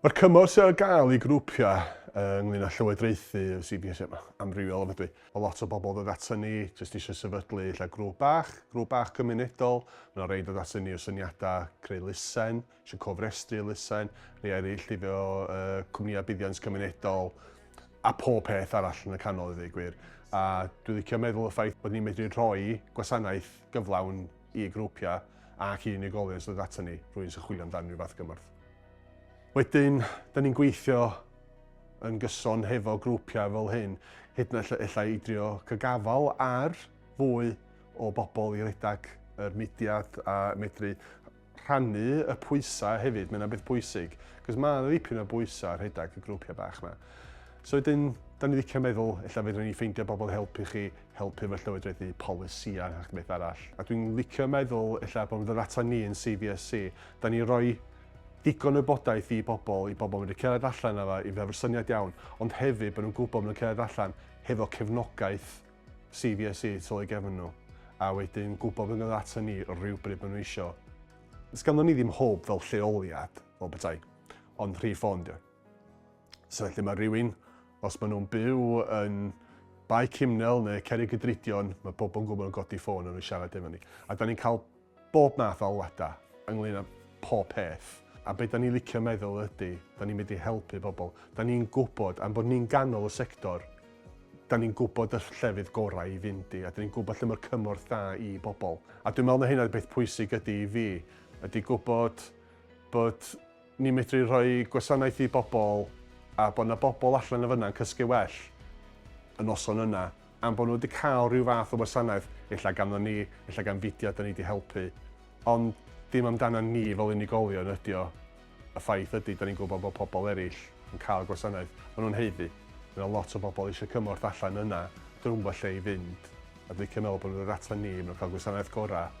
Mae'r cymorth sydd ar gael i grwpiau ynglŷn â llywodraethu y CBS yn amrywiol ofnadwy. Mae lot o bobl yn dod aton ni jyst eisiau sefydlu ella grŵp bach, grŵp bach cymunedol. Mae yna rei yn dod aton ni o syniadau creu lusen, eisiau cofrestru lusen, rhai eraill hefo cwmnïau buddiant cymunedol a pob peth arall yn y canol i ddweud y gwir. A dwi'n licio meddwl y ffaith bod ni'n medru rhoi gwasanaeth gyflawn i grwpiau ac i unigolion sy'n dod aton ni, rhywun sy'n chwilio amdan rhyw fath gymorth. Wedyn, da ni'n gweithio yn gyson hefo grwpiau fel hyn, hyd yn oed ella i drio cygafal ar fwy o bobl i redag yr mudiad a medru rhannu y pwysau hefyd, mae'n beth bwysig, cos mae yna ddipyn o bwysau rhedag y grwpiau bach yma. So wedyn, da ni licio meddwl, ella fedrwn ni ffeindio bobl i helpu chi helpu fy llywodraeth i polisïau nac beth arall. A dwi'n licio meddwl ella bod fy ddata ni yn CVSC, da ni'n rhoi digon o wybodaeth i bobl, i bobl mynd cerdded allan â fe, i fe fy syniad iawn, ond hefyd bod nhw'n gwybod bod nhw'n cerdded allan hefo cefnogaeth CVSC tu ôl i gefn nhw, a wedyn gwybod bod nhw'n ata ni rhywbryd maen nhw eisiau. Sganddo ni ddim hwb fel lleoliad, fel petai, ond rhif ffôn dio. So felly mae rhywun, os maen nhw'n byw yn Bae Cymnel neu Cerig Gydridion, mae pobl yn gwybod yn godi ffôn yn siarad efo ni. A da ni'n cael bob math o alwadau ynglyn â pob peth. A beth da ni'n licio meddwl ydy, da ni'n mynd i helpu pobl. Da ni'n gwybod, am bod ni'n ganol y sector, da ni'n gwybod y llefydd gorau i fynd i, a da ni'n gwybod lle mae'r cymorth da i bobl. A dwi'n meddwl na hynna beth pwysig ydy i fi, ydy gwybod bod ni'n medru rhoi gwasanaeth i bobl a bod 'na bobl allan yn fan'na yn cysgu well y noson yna am bod nhw wedi cael rhyw fath o wasanaeth, ella ganddo ni, ella gan fudiad 'da ni 'di helpu, ond dim amdanan ni fel unigolion ydi o. Y ffaith ydi, 'da ni'n gwybod bod pobl eraill yn cael gwasanaeth, maen nhw'n haeddu. Mae 'na lot o bobl eisiau cymorth allan yna, 'dyn nhw'm yn gwybod lle i fynd, a dwi'n licio meddwl bod nhw'n dod atan ni, maen nhw'n cael gwasanaeth gorau.